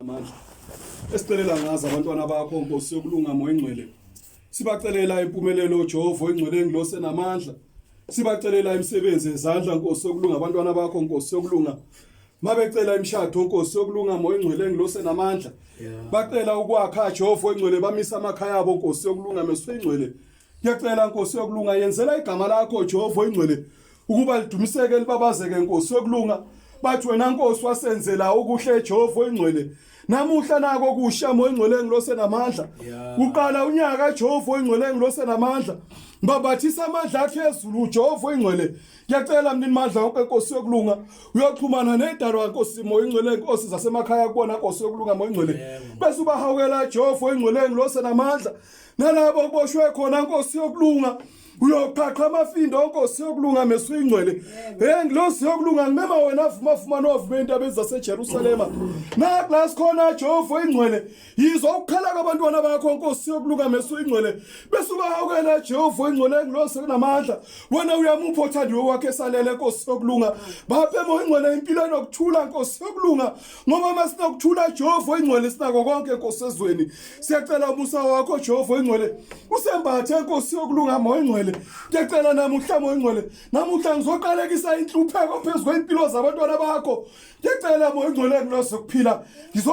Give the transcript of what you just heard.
amandla esicelela ngazo abantwana bakho nkosi yokulungama oyingcwele sibacelela impumelelo uJehova oyingcwele engilosi enamandla sibacelela imisebenzi yezandla nkosi yokulunga abantwana bakho nkosi yokulunga mabecela imshado nkosi yokulunga moya ingcwele engilose namandla bacela ukwakha Jehova engcwele bamisa amakhaya abo nkosi yokulunga meswe ingcwele Ngiyacela Nkosi yokulunga yenzela igama lakho Jehova oyingcwele ukuba lidumiseke libabazeke Nkosi yokulunga bathi wena Nkosi wasenzela okuhle Jehova oyingcwele namuhla nako kusha moya ingcwele ngilose namandla uqala unyaka Jehova oyingcwele ngilose namandla ngibabathisa amandla akhe ezulu uJehova oyingcwele ngiyacela mnini mandla wonke inkosi yokulunga uyoxhumana nedalwa nkosi moya ingcwele inkosi zasemakhaya kubona nkosi yokulunga moya ingcwele bese ubahawukela Jehova oyingcwele ngilose namandla nalabo okuboshwe khona nkosi yokulunga uyoqhaqha amafindo onkosi yokulunga meso ingcwele hey ngilosi yokulunga ngimema wena avuma avuma novume indaba ezaseJerusalema naklas khona Jehova ingcwele yizwa ukukhala kwabantwana bakho nkosi yokulunga meso ingcwele bese ubahawukela Jehova ingcwele ngilosi kunamandla wena uyamupha othandiwe wakhe salele nkosi yokulunga baphe moya ingcwele impilo enokuthula nkosi yokulunga ngoba masinokuthula Jehova oyingcwele sinako konke Nkosi ezweni siyacela umusa wakho Jehova oyingcwele usembathe Nkosi yokulungama oyingcwele ngiyacela namuhla oyingcwele namuhla ngizoqalekisa inhlupheko phezulu kwempilo zabantwana bakho ngiyacela oyingcwele kulose kuphila